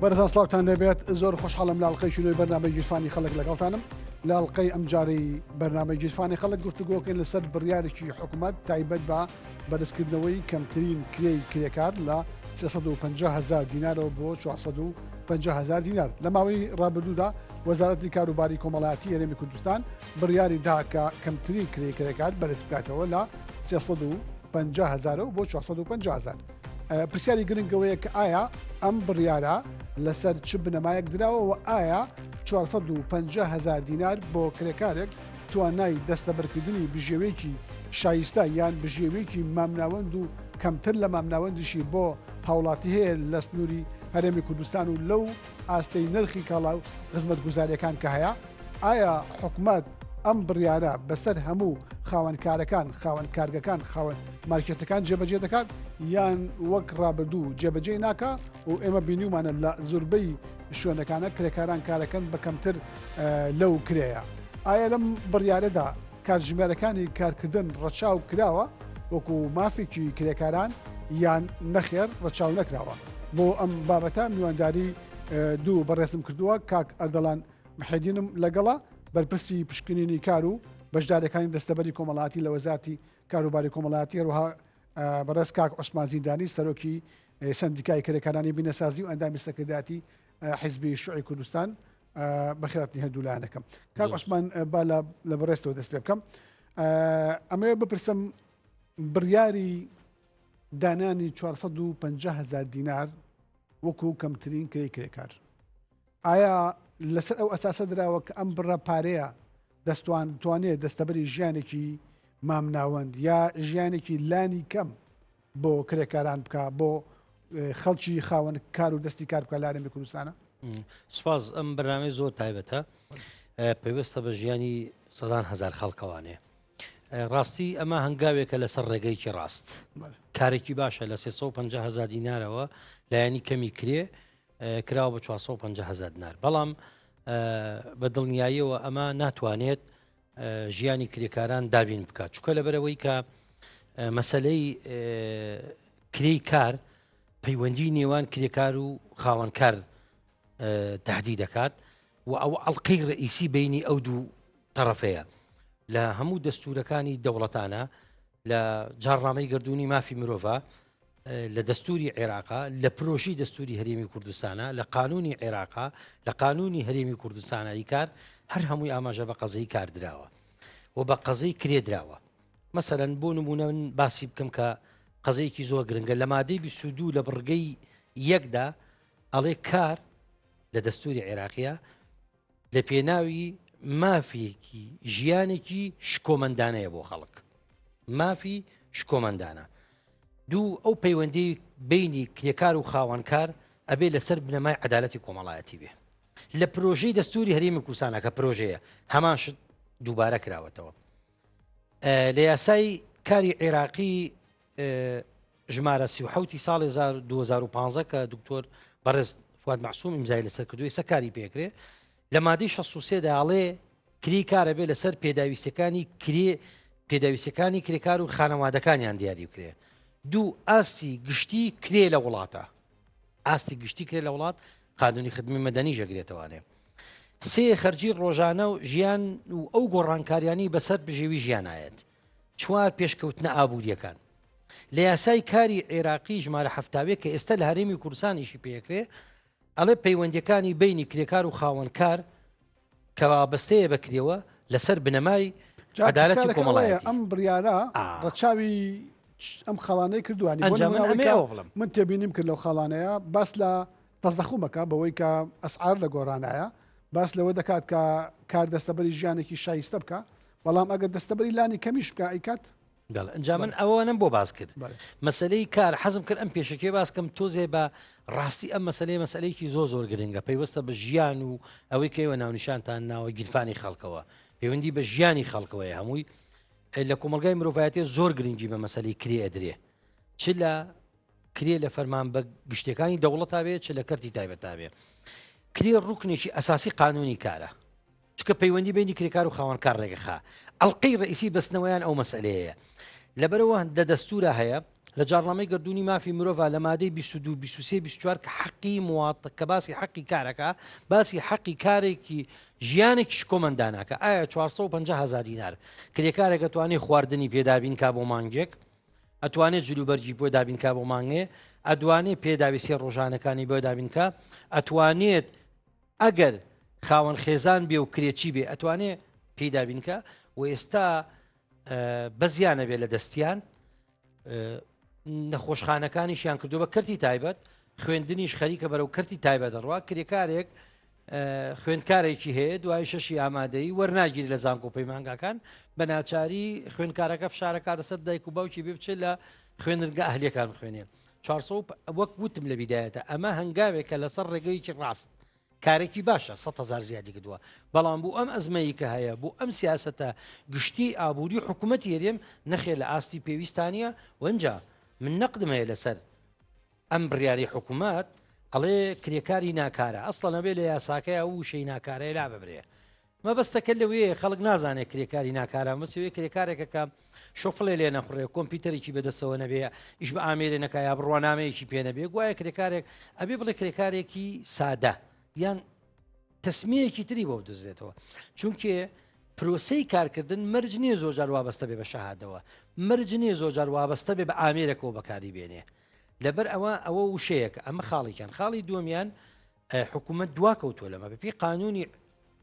بەرزان سلااوان دەبێت زۆر خۆشحاڵم لاڵقەی شوی بەنامە گیرفانی خەڵک لەگەڵتانم لاڵقەی ئەمجارەی بەنامە گیرفانی خەڵک گفتوگۆکەین لەسەر بڕیارێکی حکوومەت تایبەت بە بەرزکردنەوەی کەمترین کرێی کرێکار لە 350 هزار دینارەوە بۆ 450 هزار دینار لە ماوەی ڕابردوودا وەزارەتی کاروباری کۆمەڵاتی هەرێمی کوردستان بڕیاری دا کە کەمترین کرێی کرێکار بەرز بکاتەوە لە 350 هزارە و بۆ 450 هزار پرسیاری گرنگەوەیە کە ئایا ئەم بڕیارە لەسەر چ بنەمایەک دراوە و ئایا 450 هزار دینار بۆ کرێکارێک توانای دەستەبەرکردنی بژێویەکی شایستە یان بژێویەکی مامناوەند و کەمتر لە مامناوەندیشی بۆ هاوڵاتی هەیە لە سنوری هەرێمی کوردستان و لەو ئاستەی نرخی کاڵا و خزمەتگوزاریەکان کە هەیە ئایا حکومەت ئەم بڕیارە بەسەر هەموو خاوەن کارەکان خاوەن کارگەکان خاوەن مارکێتەکان جێبەجێ دەکات یان وەک ڕابردوو جێبەجێ ناکە و ئێمە بینیومانە لە زوربەی شوێنەکانە کرێکاران کارەکەن بە کەمتر لەو کرێە ئایا لەم بڕیارەدا کاتژمێرەکانی کارکردن ڕەچاو کراوە وەکو مافێکی کرێکاران یان نەخێر ڕەچاو نەکراوە بۆ ئەم بابەتە میوانداری دوو بەڕێزم کردووە کاک ئەردەڵان محێدینم لەگەڵا بەرپرسی پشکنینی کار و بەشدارەکانی دەستەبەری کۆمەڵاتی لە وەزارتی کاروباری کۆمەڵاتی هەروها بەڕێز کاک عوسمانزیدانی سەرۆکی سەندیکای کرێکارانی بینەسازی و ئەندامی سەکرداتی حیزبی شوعی کوردستان بەخێراتنی هەردوو لایەنەکەم کاک عوسمان با لە بەڕێستەوە دەست پێ بکەم ئەمەوێ بپرسم بڕیاری دانانی 450 هزار دینار وەکو کەمترین کرێ کرێکار ئایا لەسەر ئەو ئەساسە دراوە کە ئەم بڕە پارەیە دەستوان توانێت دەستەبەری ژیانێکی مامناوەند یا ژیانێکی لانی کەم بۆ کرێکاران بکە بۆ خەڵکی خاوەن کار و دەستی کار بکە لارێمی کوردستانە سپاس ئەم بەنامەی زۆر تایبەتە پێویستە بە ژیانی سەدان هزار خەڵکەوانێ ڕاستی ئەمە هەنگاوێکە لەسەر ڕێگەیکی ڕاست کارێکی باشە لە 350 هزار دینارەوە لایەنی کەمی کرێ کراوە بە 450 هزار دینار بەڵام بە دڵنیاییەوە ئەمە ناتوانێت ژیانی کرێکاران دابین بکات چکە لەبەرەوەی کە مەسلەی کرێی کار پەیوەندی نێوان کرێکار و خاوەنکار تهدی دەکات و ئەو ئەڵلقەی ڕئیسی بینی ئەو دوو تەرەفەیە لە هەموو دەستورەکانی دەوڵەتانە لە جاڕنامەی گردردونی مافی مرۆڤ لە دەستوری عێراقا لە پرۆشی دەستوری هەرێمی کوردستانە لە قانونی عێراقا لە قانونی هەرێمی کوردستانایی کار هەر هەمووی ئاماژە بە قەزەی کاردراوە و بە قەزەی کرێدراوە مەسەرەن بۆ نمونە من باسی بکەم کە قەزەیەکی زۆر گرنگە لە مادەی بیسودو لە بڕگەی یەکدا ئەڵێ کار لە دەستوری عێراقیە لە پێناوی مافێکی ژیانێکی شکۆمەندانەیە بۆ خەڵک مافی شکۆمەندانە دوو ئەو پەیوەندی بینی کرێکار و خاوەنکار ئەبێ لەسەر بنەمای عدالەتی کۆمەڵایەتی بێ لە پرۆژەی دەستوری هەرێمی کوردستانەکە پرۆژەیە هەمان شت دووبارە کراوەتەوە لە یاسای کاری عێراقی ژمارە سی و حوتی ساڵی 2015 کە دکتۆر بەڕێز فواد معسوم ئیمزای لەسەر کردوی سە کاری پێکرێ لە مادەی 16 داڵێ کری کارە بێ لەسەر پێداویستەکانی کرێ پێداویستەکانی کرێکار و خانەوادەکانیان دیاری بکرێ دوو ئاستی گشتی کرێ لە وڵاتە ئاستی گشتی کرێ لە وڵات قانونی خدممی مەدەنی ژەگرێتەوانێ سێ خەرجی ڕۆژانە و ژیان و ئەو گۆڕانکاریانی بەسەر بژێوی ژیانایەت چوار پێشکەوتنە ئابووریەکان لە یاسای کاری عێراقی ژمارە هەفتاوێک کە ئێستا لە هەرێمی کورسانیشی پێکرێ ئەڵێ پەیوەندەکانی بینی کرێکار و خاوەنکار کە وابەستەیە بەکرێەوە لەسەر بنەمای عدالەتی کۆمەڵایەتی ئەم بڕیارە ڕەچاوی ئەم خاڵانەی کردوانی بڵم من تێبینیم کرد لەو خاڵانەیە باس لە تەزەخومەکە بەوەی کە ئەسعار لە گۆرانایە باس لەوە دەکات کە کار دەستەبەری ژیانێکی شایستە بکە بەڵام ئەگەر دەستەبەری لانی کەمیش بکە ئەیکات دەڵ ئەجا من ئەوانم بۆ باس کرد مەسلەی کار حەزم کرد ئەم پێشەکێ باسکەم تۆزێ بە ڕاستی ئەم مەسلەی مەسلەیەکی زۆ زۆر گرنگە پەیوەستە بە ژیان و ئەوەی کەەوە ناونیشانتان ناوە گیرفانی خەڵکەوە پەیوەندی بە ژیانی خەڵکەوەی هەمووی لە کۆمەلگای مرۆڤایەتی زۆر گرنگی بە مەسلی کرێ ئەدرێ چ لە کرێ لە فەرمان بە گشتەکانی دەوڵەتاوێ چ لە کەرتی تایبەتاوێ کرێ ڕوکنێکی ئەساسی قانونی کارە چونکە پەیوەندی بینی کرێکار و خاوەنکار ڕێگەخا ئەڵلقەی ڕئیسی بەستنەوەیان ئەو مەسلەیە لەبەرەوە دە دەستورە هەیە لە جاڕنامەی گردردونی مافی مرۆڤ لە مادەی 22 24 کە حەقی موات کە باسی حەقی کارەکە باسی حەقی کارێکی ژیانێکی شکۆمەنداناکە ئایا 450 هزار دینار کرێکارێکە توانێت خواردنی پێدابین کا بۆ مانگێک ئەتوانێت جلوبەرگی بۆ دابینکە بۆ مانگێ ئەدوانێت پێداویستی ڕۆژانەکانی بۆ دابینکە ئەتوانێت ئەگەر خاوەن خێزان بێ و کرێچی بێ ئەتوانێ پێی دابینکە و ئێستا بەزیانە بێ لە دەستیان نەخۆشخانەکانیشیان کردو بە کەرتی تایبەت خوێندنیش خەریکە بەرەو کەرتی تایبەت دەڕوا کرێکارێک خوێندکارێکی هەیە دوای شەشی ئامادەی وەرناگیری لە زانکۆ پەیمانگاکان بە ناچاری خوێندکارەکە فشارەکە دەسەر دایک و باوکی بێ بچێت لە خوێنرگە ئەهلیەکان خوێنێ چارسەوپ وەک وتم لە بیدایەتە ئەمە هەنگاوێکە لەسەر ڕێگەیەکی ڕاست کارێکی باشە سە هزار زیادی کردووە بەڵام بوو ئەم ئەزمەیی کە هەیە بوو ئەم سیاستە گشتی ئابووری حکوومەت یەرێم نەخێ لە ئاستی پێویستانە وەنجا من نەقدمەیە لەسەر ئەم بڕیاری حکوومەت ئەڵێ کرێکاری ناکارە ئەسڵەنەبێ لە یاساکەی ئەو شەی ناکارەیە لا ببرێ مەبەستەکە لەوەیە خەڵک نازانێت کرێکاری ناکارە مەسەوەی کرێکارێکە کە شۆفڵێ لێ نەخڕێ کۆمپیوتەرێکی بەدەسەوە نەبێ ئیش بە ئامێرێ نەکایە بڕوانامەیەکی پێنەبێ گوایە کرێکارێک ئەبێ بڵێ کرێکارێکی سادە یان تەسمیەکی تری بۆ دەزێتەوە چونکێ پرۆسی کارکردن مەرج نییە زۆر جار وابەستە بێ بە شەهادەوە مەرج نییە زۆر جار وابەستە بێ بە ئامێرەکەەوە بەکاری بێنێ لەبەر ئەوە ئەوە وشەیەکە ئەمە خاڵێکیان خاڵی دومیان حکوومەت دوا کەوتووە لەمە بەپی قانونی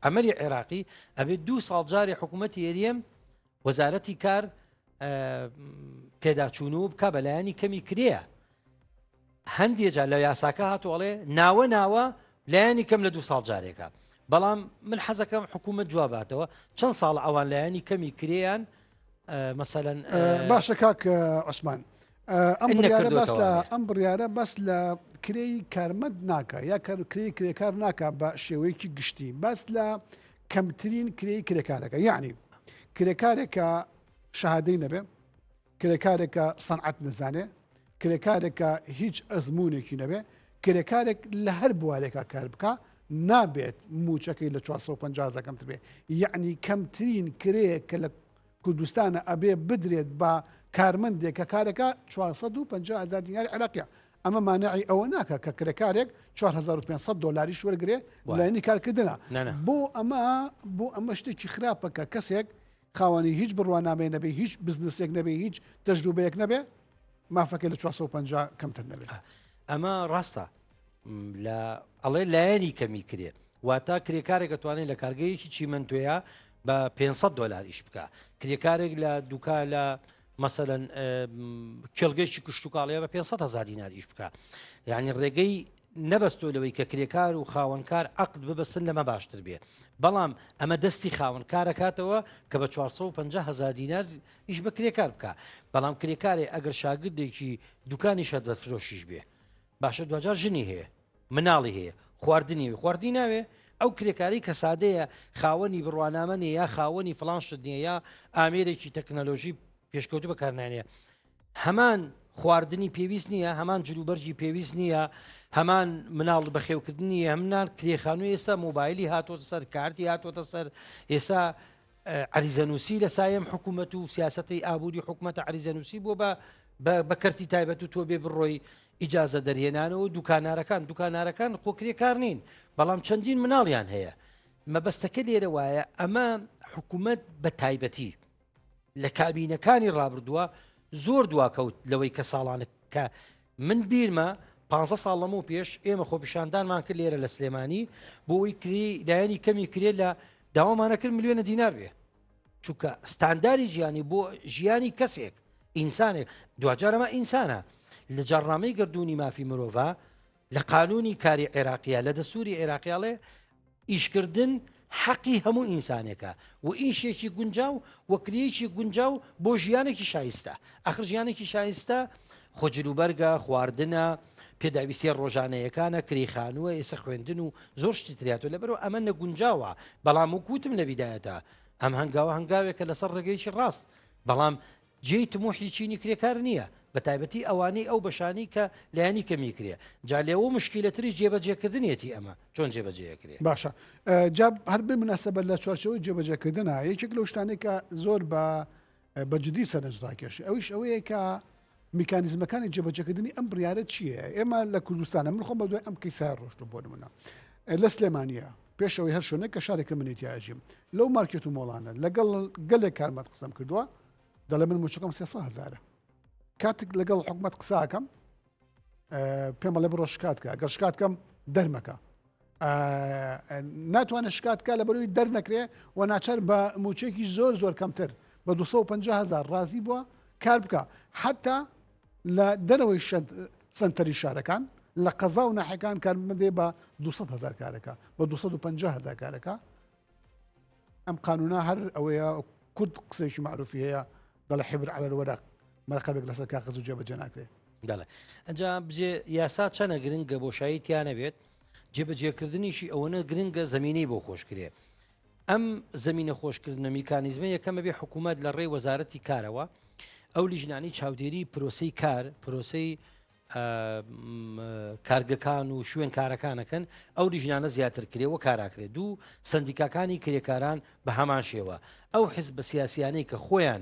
ئەمەری عێراقی ئەبێ دوو ساڵ جاری حکوومەت هێریەم وەزارەتی کار پێداچوون و بک بەلایانی کەمی کرێە هەندێک جار لە یاساکە هاتووەڵێ ناوە ناوە لایەنی کەم لە دوو ساڵ جارێکە بەڵام من حەزەکەم حکوومەت جواباتەوە چەند ساڵ ئەوان لایەنی کەمی کرێیان مەسەەن باشە کاک عوسمان ئەم بڕیارە بەس لە ئەم بڕیارە بەس لە کرێی کارمەند ناکە یا کرێی کرێکار ناکە بە شێوەیەکی گشتی بەس لە کەمترین کرێی کرێکارەکە یعنی کرێکارێکە شەهادەی نەبێ کرێکارێکە سەنعەت نزانێ کرێکارێک کە هیچ ئەزموونێکی نەبێ کرێکارێک لە هەر بوارێکا کار بکە نابێت موچەکەی لە 450 کەمتر بێ یعنی کەمترین کرەیەک کە لە کوردستانە ئەبێ بدرێت بە کارمەندێک کە کارەکە 450هزار دینار عراقیە ئەمە مانعی ئەوە ناکە کە کرێکارێک 4500 دلاریش وەرگێ لەنی کارکردە بۆ ئەمە بۆ ئەمە شتێکی خراپەکە کەسێک خاوەنی هیچ بڕوانامەیە نەبێ هیچ بزنسێک نەبێ هیچ تەجروبەیەک نەبێ مافەکە لە 450 کەمتر نەبێت ئەمە ڕاستە لە ئەڵێ لایەنی کەمی کرێ واتا کرێکارێکە توانێت لە کارگەیەکی چیمەندێە بە 500 دلار ئیش بکە کرێکارێک لە دوکا لە مەسەەن کێڵگەیکی کوشتتوکڵەیە بە 500 هزار دینار ئیش بکە یعنی ڕێگەی نەبەستۆ لەوەی کە کرێکار و خاوەنکار عقد ببەستن لەمە باشتر بێ بەڵام ئەمە دەستی خاون کارەکاتەوە کە بە 450 هزار دینار ئیش بە کرێکار بکە بەڵام کرێکارێ ئەگەر شاگردێکی دوکانی شەت بە فرۆشیش بێ باشە دوجار ژنی هەیە مناڵی هەیە خواردنی خواردی ناوێ ئەو کرێکاری کە سادەیە خاوەنی بڕوانامەنێ یا خاوەنی فلان شت نیە یا ئامێرێکی تەکنەلۆژی پێشکەوتو بەکارنانە هەمان خواردنی پێویست نییە هەمان جلوبەرجی پێویست نییە هەمان مناڵ بەخێوکردنی هەمنان کرێخانو ئێستا موبایلی هاتۆتە سەر کارتی هاتۆتە سەر ئێستا عریزەنووسی لە سایم حکوومەت و سیاستی ئابووری حکوومەتە عریزەنووسی بۆ بە بە کەرتی تایبەت و تۆ بێ بڕۆی ئیجازە دەرهێنانەوە دوکانارەکان دوکانارەکان خۆکرێ کار نین بەڵام چەندین مناڵیان هەیە مەبەستەکە لێرە وایە ئەمە حکوومەت بە تایبەتی لە کابینەکانی ڕابردووە زۆر دواکەوت لەوەی کە ساڵانە کە من بیرمە پ ساڵ لەمە و پێش ئێمە خۆپیشاندانمان کرد لێرە لە سلێمانی بۆی کری دایانی کەمی کرێ لە داوامانەکرد ملیۆنە دینار بێ چونکە ستانداری ژیانی بۆ ژیانی کەسێک ئینسانێک دوجارەمە ئینسانە لە جاڕنامەی گردردونی مافی مرۆڤ لە قانونی کاری عێراقیە لە دەسووری عێراقیاڵێ ئیشکردن حەقی هەموو ئینسانێکە و ئیشێکی گونجا و وەکریەکی گونجا و بۆ ژیانێکی شایستە ئەخر ژیانێکی شایستە خۆجروبەرگە خواردنە پێداویستە ڕۆژانەیەکانە کریخانووە ئێسە خوێندن و زۆر شتی تریاتۆ لەبەرو ئەمە نەگونجاوە بەڵام و کوتم لە بیدایەتە ئەم هەنگاوە هەنگاوێکە لەسەر ڕێگەیکی ڕاست بەڵام جێی تموحی چینی کرێکار نییە بە تایبەتی ئەوانەی ئەو بەشانەی کە لایەنی کەمی کرێ جا لێوە مشکیلەتری جێبەجێکردنیەتی ئەمە چۆن جێبەجێکرێ باشە جا هەر بێ مناسبە لە چوارچەوەی جێبەجێکردنە یەکێک لەو شتانێکە زۆر بە بەجددی سەرنجڕاکێش ئەوش ئەوەیە کە میکانزمەکانی جێبەجەکردنی ئەم بڕارە چییە ئێمە لە کوردستانە من خۆم بە دوای ئەم کەیسا ڕۆشتم بۆ منە لە سلێمانە پێش ئەوەی هەر شوێنێک کە شارێکە منی تیا ئەژیم لەو مارکێت و مۆڵانە لەگەڵ گەلێک کارمەت قسەم کردووە دەڵێ من موچەکەم سێ هزارە کاتێک لەگەڵ حکومت قساکەم پێم بەڵێ بڕۆ شکاتکە گەر شکاتکەم دەرمەکە ناتوانێت شکاتکە لە بەروی دەرنەکرێ و ناچار بە موچێکی زۆر زۆر کەمتر بە 250هزار ڕازی بووە کار بکە حتا لە دەرەوەی شەد سەنتەری شارەکان لە قەزا و ناحەکان کارمەندێ بە 200 هزار کارەکە بە 250 هزار کارەکە ئەم قانونا هەر ئەوەیە کورد قسێکی معروفی هەیە دەڵە حبر على الورق مەرقەبێک لەسەر کاغز و جێبەجێ ناکرێت دەڵێ ئەجا بجێ یاسا چەنە گرنگە بۆشایی تیانە بێت جێبەجێکردنیشی ئەوەنە گرنگە زمینی بۆ خۆشکرێ ئەم زمینە خۆشکردنە میکانیزمە یەکەمە بێ حکوومەت لە ڕێی وەزارەتی کارەوە ئەو لیژنانی چاودێری پرۆسی کار پرۆسی کارگەکان و شوێن کارەکانەکەن ئەو لیژنانە زیاتر کرێ و کاراکرێت دوو سندیکاکانی کرێکاران بە هەمان شێوە ئەو حزب بە سیاسیانەی کە خۆیان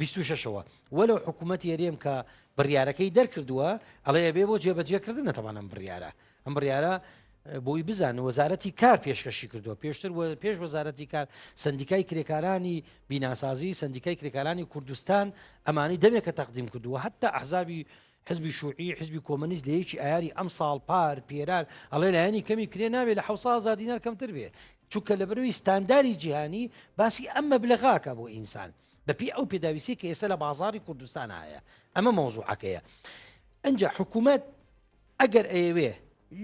بیست و شەشەوە وەلو حکوومەت یەرێم کە بڕیارەکەی دەرکردووە ئەڵێ ئەبێ بۆ جێبەجێکردن نەتەوانم بڕیارە ئەم بڕیارە بۆی بزان وەزارەتی کار پێشکەشی کردووە پێشتر پێش وەزارەتی کار سندیکای کرێکارانی بیناسازی سندیکای کرێکارانی کوردستان ئەمانی دەمێکە تەقدیم کردووە حتا ئەحزابی حزبی شوعی حزبی کۆمەنیست لە یەکی ئایاری ئەم ساڵ پار پێرار ئەڵێ لایەنی کەمی کرێ ناوێ لە حوسا زادینار کەمتر بێ چونکە لە بەروی ستانداری جیهانی باسی ئەم مەبلغاکە بۆ ئینسان بەپی ئەو پێداویستی کە ئێستا لە بازاری کوردستان هەیە ئەمە مۆزوعەکەیە ئەجا حکوومەت ئەگەر ئەیەوێ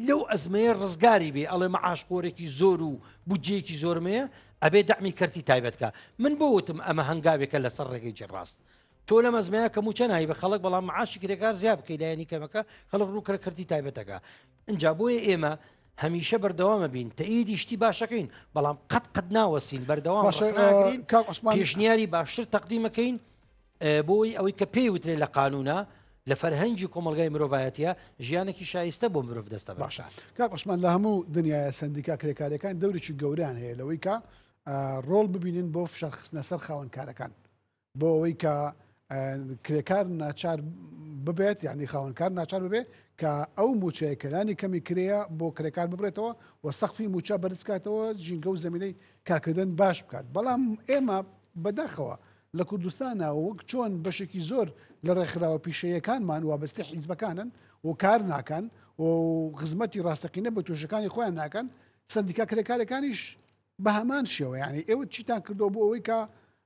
لەو ئەزمەیە ڕزگاری بێ ئەڵێ مەعاشخۆرێکی زۆر و بودجەیەکی زۆرمەیە ئەبێ دەمی کەرتی تایبەتکە من بۆ وتم ئەمە هەنگاوێکە لەسەر ڕێگەی جێڕاست تۆ لەم ئەزمەیە کە موچە نای بە خەڵک بەڵام معاشی کرێکار زیاب بکەی لایەنی کەمەکە خەڵک ڕوو کە کردی تایبەتەکە ئەجا بۆیە ئێمە هەمیشە بەردەوامە بین تەئیدی شتی باشەکەین بەڵام قەت قەت ناوەسین بەردەوام پێشنیاری باشتر تەقدیمەکەین بۆی ئەوەی کە پێی وترێ لە قانونا لە فەرهەنگی کۆمەلگای مرۆڤایەتە ژیانێکی شایستە بۆ مرۆڤ دەستە باشە کاکۆسمان لە هەموو دنیاە سندیکا کرێکارەکان دەورێکی گەوریان هەیە لەوەی کە ڕۆڵ ببینن بۆ فشار خستنە سەر خاونکارەکان بۆ ئەوەی کە کرێکار ناچار ببێت یعنی خاونکار ناچار ببێت کە ئەو موچەیە کەلانی کەمی کرەیە بۆ کرێکار ببرێتەوە و سەخفی موچە بەرزکاتەوە ژینگە و زمینەی کارکردن باش بکات بەڵام ئێمە بەداخەوە لە کوردستانە وەک چۆن بەشێکی زۆر لە ڕێکخراوە پیشەیەکانمان وابستی حیزبەکانن و کار ناکەن و خزمەتی ڕاستەقینە بە توێژەکانی خۆیان ناکەن سندیکا کرێکارەکانیش بە هەمان شێوە یعنی ئێوە چیتان کردو بۆ ئەوەی کە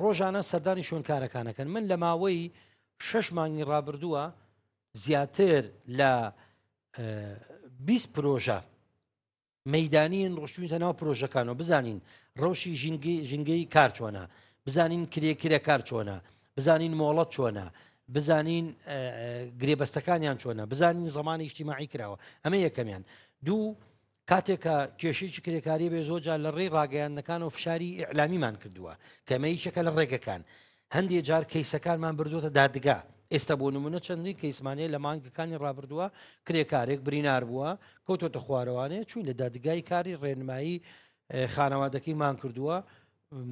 ڕۆژانە سەردانی شوێنکارەکانەکەن من لە ماوەی شەش مانگی ڕابردووە زیاتر لە 20 پرۆژە مەدانین ڕشتوینتە ناو پرۆژەکانەوە بزانین ڕەوشی ژینگەی کار چۆنە بزانین کرێکرە کار چۆنە بزانین مۆڵەت چۆنە بزانین گرێبەستەکانیان چۆنە بزانین زمانی نیشتیماعی کراوە ئەمە یەکەمیان دوو کاتێک کە کێشێکی کرێکاری بێ زۆجا لە ڕێی ڕاگەیاندنەکان و فشاری ئیعلامیمان کردووە کەمەیەکێکە لە ڕێگەکان هەندێک جار کەیسەکانمان بردوتە دادگا ئێستا بۆ نمونە چەندین کەیسمانەیە لە مانگەکانی ڕابردووە کرێکارێک برینار بووە کەوتۆتە خوارەوانێ چوین لە دادگای کاری ڕێنمایی خانەوادەکەی مان کردووە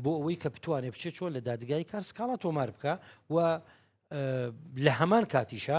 بۆ ئەوەی کە بتوانێت بچێت چۆن لە دادگای کار سکاڵا تۆمار بکە و لە هەمان کاتیشە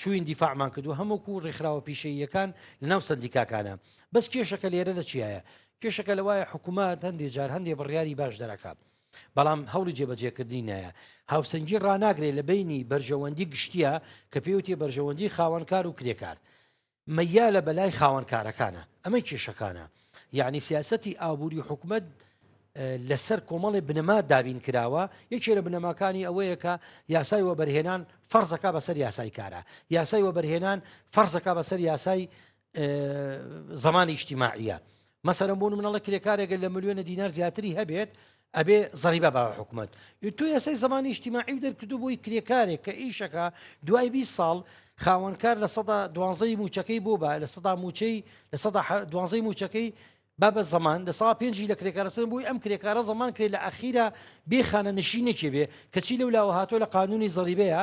چوین دیفاعمان کردو هەمووکو ڕێکخراوە پیشەییەکان لەناو سندیکاکانە بەس کێشەکە لێرە لە چیایە کێشەکە لەوایە حکوومەت هەندێک جار هەندێک بڕیاری باش دەرەکە بەڵام هەوڵی جێبەجێکردنی نایە هاوسەنگی ڕناگرێت لە بینی بەرژەوەندی گشتیە کە پێوتێ بەرژەوەندی خاوەنکار و کرێکار مەیالە بەلای خاوەن کارەکانە ئەمە کێشەکانە یعنی سیاستی ئابووری حکومت لەسەر کۆمەڵی بنەما دابین کراوە یەکێ لە بنەماکانی ئەوەیە کە یاسای وەبەرهێنان فەرزەکە بەسەر یاسای کارە یاسای وەبەرهێنان فەرزەکە بەسەر یاسای زمانی نیشتیماعە مەسەرم بوون منەڵە کرێکارێکە لە ملیۆنە دینار زیاتری هەبێت ئەبێ زەریبە باوە حکوومەت تو یاسای زمانی نیشتیماعی دەرکردو بۆی کرێکارێک کە ئیشەکە دوای 20 ساڵ خاوەنکار لە سەدا دوانزەی موچەکەی بۆ بە لە سەدا موچەی لە سەدا دوانزەی موچەکەی بابە زمان لە سا پێنجی لە کرێکارەسەر بووی ئەم کرێکارە زمان کرێ لە ئەخیرا بێخانە نشینێکی بێ کەچی لەو لاوە هاتۆ لە قانونی زەریبەیە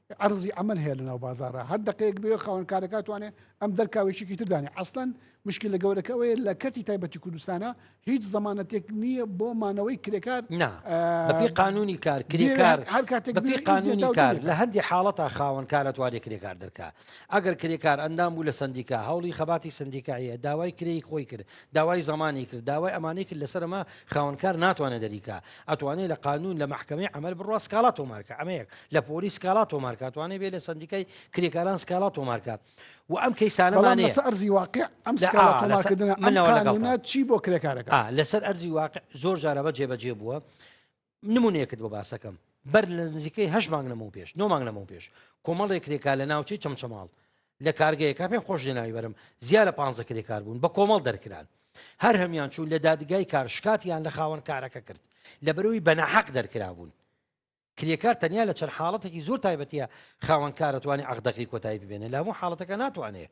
عەرزی عەمەل هەیە لە ناو بازارە هەر دقەیەک بێ خاوەنکارەکە توانێ ئەم دەرکاوێکیی تردانێ ئەسلەن مشکل لە گەورەکە ئەوەیە لە کەرتی تایبەتی کوردستانە هیچ زمانەتێک نییە بۆ مانەوەی کرێکار بەپی قانونی کار کرێکار هەر کاتێک بەپی قانونی کار لە هەندی حاڵەتە خاوەنکارە توانێ کرێکار دەرکە ئەگەر کرێکار ئەندام بوو لە سندیکا هەوڵی خەباتی سندیکایە داوای کرێی خۆی کرد داوای زەمانی کرد داوای ئەمانەی کرد لەسەر ئەمە خاوەن کار ناتوانێت دەریکا ئەتوانێت لە قانون لە محکمەی ئەمەل بڕوا سکاڵا تۆمارکە ئەمەیەک لە پۆری سکاڵا تۆمارکاتوانێت بێ لە سندیکای کرێکاران سکاڵا تۆمارکە و ئەم کەیسانەمانێ ئەرزی واقع ئەم منەوە چی بۆ کرێکارەکە لەسەر ئەرزی واقع زۆر جارەبە جێبەجێ بووە نمونەیەکت بۆ باسەکەم بەر لە نزیکەی هەش مانگ لەمەو پێش نۆ مانگ لەمەو پێش کۆمەڵێ کرێکا لە ناوچەی چەمچەماڵ لە کارگەیەکە پێم خۆش لێناوی بەرم زیاد لە پ کرێکار بوون بە کۆمەڵ دەرکران هەر هەمان چوون لە دادگای کار شکاتیان لە خاوەن کارەکە کرد لە بەرەوەی بەنەحەق دەرکرابوون کرێکار تەنیا لە چەند حاڵەتێکی زۆر تایبەتە خاوەنکارەتوانی عقدەکەی کۆتایی ببێنێ لە هەموو حاڵەتەکە ناتوانێت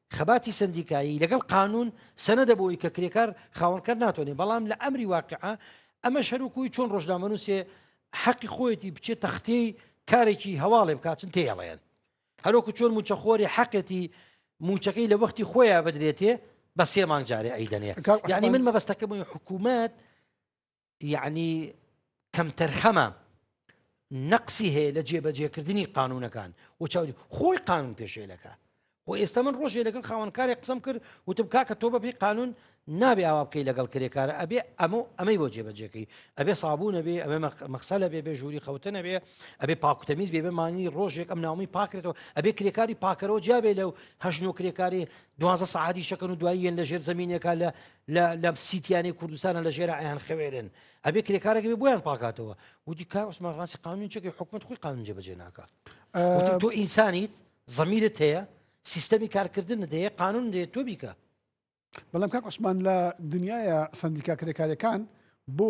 خەباتی سەندیکایی لەگەڵ قانون سەنەدە بۆی کە کرێکار خاوەنکار ناتوانێت بەڵام لە ئەمری واقعە ئەمە شەروکوی چۆن ڕۆژنامەنووسێ حەقی خۆیەتی بچێت تەختی کارێکی هەواڵێ بکاتن تێڵێن هەروکو چۆن موچەخۆری حەقێتی موچەکەی لە وەختی خۆیان بدرێتێ بە سێ مانگ جارێ ئەیدەنێ ینی من مەبەستەکە بووی حکوومەت یەعنی کەمتەرخەمە نەقسی هەیە لە جێبەجێکردنی قانونەکان و چاودی خۆی قانون پێشێلەکە و ئێستا من ڕۆژێ لەگەڵ خاوەنکاری قسم کرد وتم کاکە تۆ بەپی قانون نابێ ئاوا بکەی لەگەڵ کرێکارە ئەبێ ئەمە ئەمەی بۆ جێبەجێەکەی ئەبێ سابوونە بێ ئەمە مەخسەلە بێ بێ ژووری خەوتنە بێ ئەبێ پاکوتەمیز بێ بمانی ڕۆژێک ئەم ناومی پاکرێتەوە ئەبێ کرێکاری پاکەرەوە جیابێ لەو هەژن و کرێکاری دوازە سعادی شەکەن و دواییەن لە ژێر زمینێکا لە لە لە سیتیانی کوردستانە لە ژێرا ئەیان خەوێرن ئەبێ کرێکارێک بێ بۆیان پاکاتەوە وتی کار عوسمان ڕاستی قانون چێکی حکومت خۆی قانون جێبەجێ ناکات وتی تۆ ئینسانیت زەمیرت هەیە سیستەمی کارکردن دەیە قانون دێ تۆ بیکە بەڵام کاک عوسمان لە دنیاە سندیکا کرێکارەکان بۆ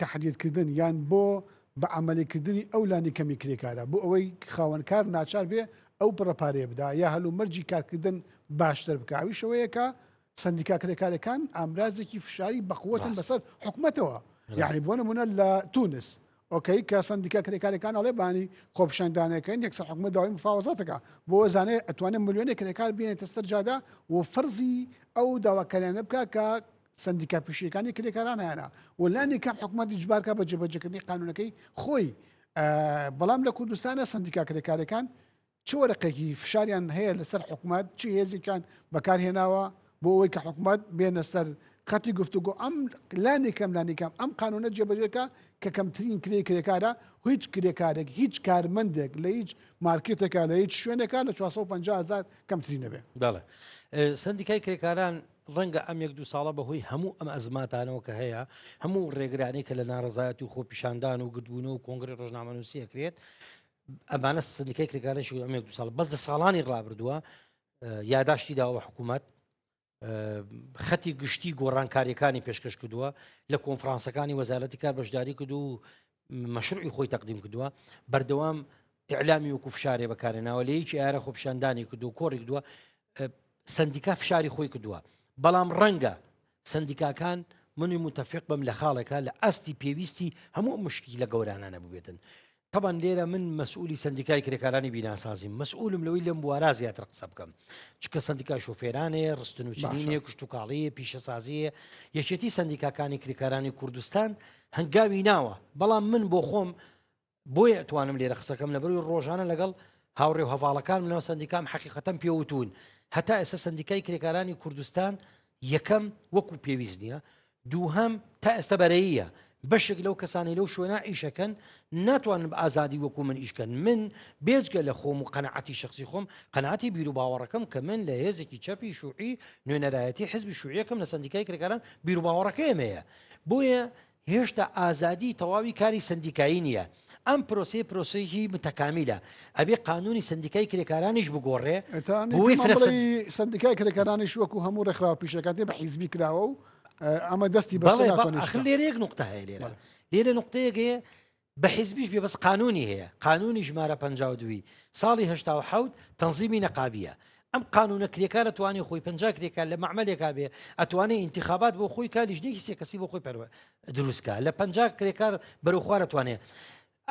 تهدیدکردن یان بۆ بە عملیکردنی ئەو لانی کەمی کرێکارە بۆ ئەوەی خاوەنکار ناچار بێ ئەو پڕەپارێ بدا یا هەلو مەرجی کارکردن باشتر بکاویشەوەیەکە سەندیکا کرێکارەکان ئامرازێکی فشاری بەقوتن بەسەر حکومەتەوە یعنی بۆ نمونە لە تونس ئۆکەی کە سندیکا کرێکارەکان ئەڵێ بانی خۆپشاندانەکەن یەکسەر حکومە داوای مفاوەزاتەکە بۆ زانێ ئەتوانێت ملیۆنێ کرێکار بێنێتە سەرجادا و فەرزی ئەو داواکاریانە بکە کە سندیکا پیشەکانی کرێکاران هەیەە و لانی کام حکومەت جبارکە بە جێبەجەکردنی قانونەکەی خۆی بەڵام لە کوردستانە سندیکا کرێکارەکان چ وەرەقێکی فشاریان هەیە لەسەر حکومەت چ هێزێکیان بەکارهێناوە بۆ ئەوەی کە حکومەت بێنە سەر خەتی گفتوگۆ ئەم لانێکم لانێکم ئەم قانونە جێبەجێکە کە کەمترین کرێ کرێکارە هیچ کرێکارێک هیچ کارمەندێک لە هیچ مارکێتێکە لە هیچ شوێنێکە لە 450 هزار کەمتری نەبێ دەڵێ سندیکای کرێکاران ڕەنگە ئەم یەک دو ساڵە بەهۆی هەموو ئەم ئەزماتانەوە کە هەیە هەموو ڕێگرانی کە لە ناڕزایەتی و خۆپیشاندان و گردبوون و کۆنگری ڕۆژنامەنووسیەکرێت ئەمانە سندیکای کرێکاران شو ئەمێک دو ساڵ بەس لە ساڵانی ڕابردووە یاداشتی داوە حکوومەت خەتی گشتی گۆڕانکاریەکانی پێشکەش کردووە لە کۆنفرانسەکانی وەزارەتی کار بەشداری کردو و مەشروعی خۆی تەقدیم کردووە بەردەوام ئەعلامی وکو فشارێ بەکارێناوە لە یەکی ئارە خۆپشاندانی کردو کۆڕی کردووە سەندیکا فشاری خۆی کردووە بەڵام ڕەنگە سندیکاکان منی متفق بم لە خاڵێکە لە ئاستی پێویستی هەموو مشکی لە گەورانانە ببێتن طبعا لێرە من مەسئولی سندیکای کرێکارانی بیناسازیم مەسئولم لەوەی لەم بوارا زیاتر قسە بکەم چکە سندیکا شوفێرانێ ڕستن و چینێ کوشت و کاڵیە پیشەسازیە یەکێتی سندیکاکانی کرێکارانی کوردستان هەنگاوی ناوە بەڵام من بۆ خۆم بۆیە ئەتوانم لێرە قسەکەم لە بەروی ڕۆژانە لەگەڵ هاوڕێ و هەواڵەکان منەوە سندیکام حەقیقەتەم پێوتون هەتا ئێستا سندیکای کرێکارانی کوردستان یەکەم وەکو پێویست نییە دووهەم تا ئێستا بەرەیە بەشێک لەو کەسانی لەو شوێنە ئیشەکەن ناتوانن بە ئازادی وەکو من ئیشکەن من بێجگە لە خۆم و قەنەعەتی شخصی خۆم قەنەتی بیر و باوەڕەکەم کە من لە هێزێکی چەپی شوعی نوێنەرایەتی حزبی شوعیەکەم لە سندیکای کرێکاران بیر و باوەڕەکەیمەیە بۆیە هێشتا ئازادی تەواوی کاری سەندیکایی نیە، ئەم پرۆسەیە پرۆسەیەکی متەکامیلە، ئەبێ قانونی سەندیکای کرێکارانیش بگۆڕێ بۆی فرە سەند. سەندیکای کرێکارانیش وەکو هەموو ڕێکخراوە پیشەکەتی بە حیزبی کراوە و ئەمە دەستی بەڵێ بەڵێ ئەخر لێرە یەک نوقتە هەیە لێرە لێرە نوقتەیەک هەیە بە حیزبیش بێ بەس قانونی هەیە قانونی ژمارە پ دوی ساڵی هشتا و حوت تەنزیمی نەقابیە ئەم قانونە کرێکارە توانانی خۆی پ کرێکار لە معملێکا بێ ئەتوانێت انتخابات بۆ خۆی کا لیژنێکی سێکەسی بۆ خۆی پەروە دروستکە لە پ کرێکار بەرەخوارە توانێت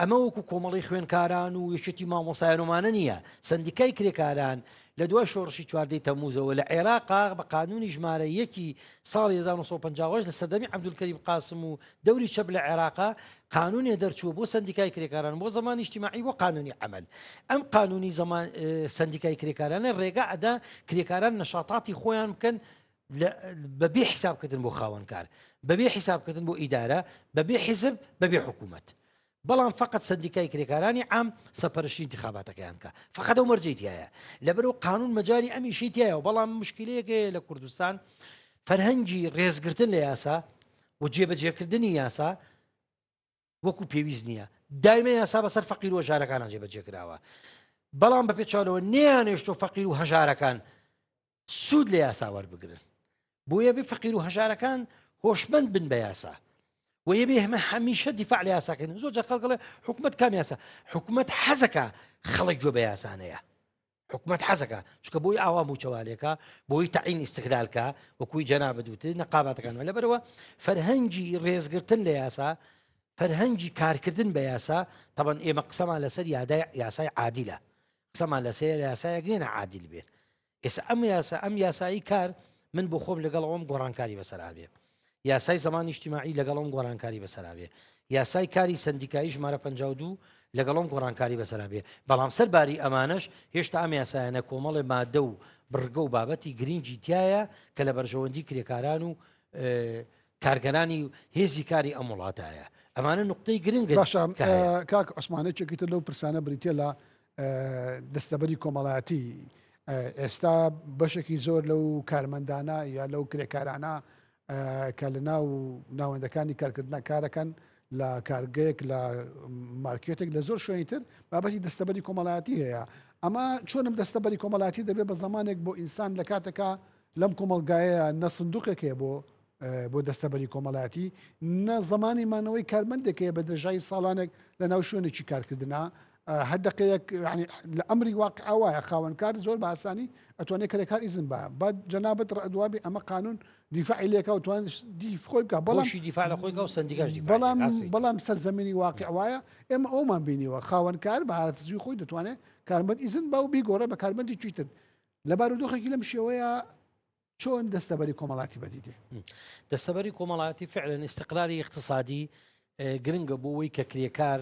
ئەمە وەکو کۆمەڵی خوێنکاران و یەکێتی مامۆسایانمانە نییە سندیکای کرێکاران لە دوای شۆڕشی چواردەی تەموزەوە لە عێراقا بە قانونی ژمارە یەکی ساڵ 1950 لە سەردەمی عبدولکەری قاسم و دەوری چەپ لە عێراقا قانونێ دەرچوو بۆ سندیکای کرێکاران بۆ زمانی نیشتیماعی بۆ قانونی عمل ئەم قانونی زمان سندیکای کرێکارانە ڕێگا ئەدا کرێکاران نەشاتاتی خۆیان بکەن بەبێ حیسابکردن بۆ خاوەنکار بەبێ حیسابکردن بۆ ئیدارە بەبێ حیزب بەبێ حکوومەت بەڵام فقط سندیکای کرێکارانی عام سەپەرشی انتخاباتەکەیان کە فقط ئەو مەرجی تایە لەبەر و قانون مەجای ئەمیشی تایە و بەڵام مشکلەیەکێ لە کوردستان فەرهەنگی ڕێزگرتن لە یاسا و جێبەجێکردنی یاسا وەکو پێویست نییە دایمە یاسا بەسەر فەقیر و ژارەکانە جێبەجێکراوە بەڵام بە پێچالەوە نیانێشتۆ فەقیر و هەژارەکان سوود لە یاسا وەربگرن بۆیە بێ فەقیر و هەژارەکان هۆشمەند بن بە یاسا و یە بێ هەمە هەمیشە دیفاع لە یاساکەن زۆر جە خەڵگەڵێ حکوومەت کام یاسا حکوومەت حەزەکە خەڵک گوێ بە یاسانەیە حکوومەت حەزەکە چکە بۆی ئاوا موچەوالێکە بۆی تعین ئیسقلالکە وەکوی جەنا بدوت نەقاباتەکان لە بەرەوە فەرهەنگی ڕێزگرتن لە یاسا فەرهەنگی کارکردن بە یاسا تەبەن ئێمە قسەمان لەسەر یادای یاسای عادیلە قسەمان لەسەر یاسایەک نیە ناعادیل بێ ئێستا ئەم یاسا ئەم یاسایی کار من بۆ خۆم لەگەڵ ئەوم گۆڕانکاری بەسەرابێ یاسای زمان نیشتیماعی لەگەڵم گۆڕانکاری بەسەرابێ یاسای کاری سندیکایی ژمارە 52 لەگەڵم گۆڕانکاری بەسەرابێ بەڵام سەر باری ئەمانش هێشتا ئەم یاسایەنە کۆمەڵێ مادە و بڕگە و بابەتی گرنگی تایە کە لە بەرژەوەندی کرێکاران و کارگەرانی و هێزی کاری ئەم وڵاتایە ئەمانە نقطەی گرنگ باشە کاک عسمانێکێکی تر لەو پرسانە بریتە لە دەستەبەری کۆمەڵایەتی ئێستا بەشێکی زۆر لەو کارمەندانە یا لەو کرێکارانە کە لە ناو ناوەندەکانی کارکردنا کارەکەن لە کارگەیەک لە مارکێتێک لە زۆر شوێنی تر بابەتی دەستەبەری کۆمەڵایەتی هەیە ئەمە چۆنم دەستەبەری کۆمەڵاتی دەبێت بە زمانێک بۆ ئینسان لە کاتەکە لەم کۆمەڵگایەیا نە سندوقێک هەیە بۆ بۆ دەستەبەری کۆمەڵایەتی نە زمانی مانەوەی کارمەندێک هەیە بە درێژایی ساڵانێک لە ناو شوێنێکی کارکردە هەردەقەیەک لە ئەمری واقع ئاوایە خاوەنکار زۆر باسانی ئەتوانێت کەرێکار ئیزن بە با جەنابەت ڕدوابی ئەمە قانون دیفاعی لێکە و توان دیفخۆی بکە بەڵامشی دیفاع لە خۆی و سندیگەش بەڵام بەڵام سەرزەمینی واقع وایە ئێمە ئەومان بینیوە خاوەنکار بە هاتزوی خۆی دەتوانێت کارمەند ئیزن با و بیگۆڕێ بە کارمەندی چیتر لە بارودۆخێکی لەم شێوەیە چۆن دەستەبەری کۆمەڵاتی بەدیدێ دەستەبەری کۆمەڵاتی فعلەن استقراری اقتصادی گرنگە بۆ ئەوی کە کرێکار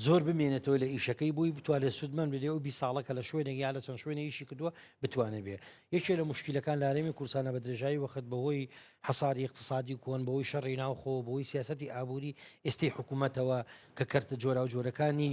زۆر بمێنێتەوە لە ئیشەکەی بووی بتوانێت سوودمەند بدێ و بی ساڵەکە لە شوێنێک یا لە چەند شوێنە ئیشی کردووە بتوانێت بێ یەکێ لە مشکلەکان لارێمی کورسانە بە درێژایی وەخت بەهۆی حەساری اقتصادی کۆن بەوەی شەڕی ناوخۆ بۆی سیاستی ئابووری ئێستی حکوومەتەوە کە کەرتە جۆرا و جۆرەکانی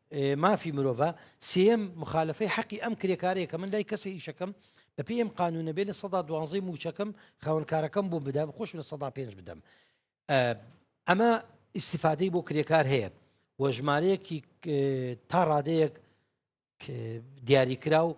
مافی مرۆڤە سێم مخالفەی حەقی ئەم کرێکارەیە کە من لای کەسە ئیشەکەم بە پێم قانونە بێ لە سەدا دوانزەی موچەکەم خاونکارەکەم بۆ بدەم خۆش لە سەدا پێنج بدەم ئەمە ئیسیفادەی بۆ کرێکار هەیە وە ژمارەیەکی تا ڕادەیەک دیاریکرا و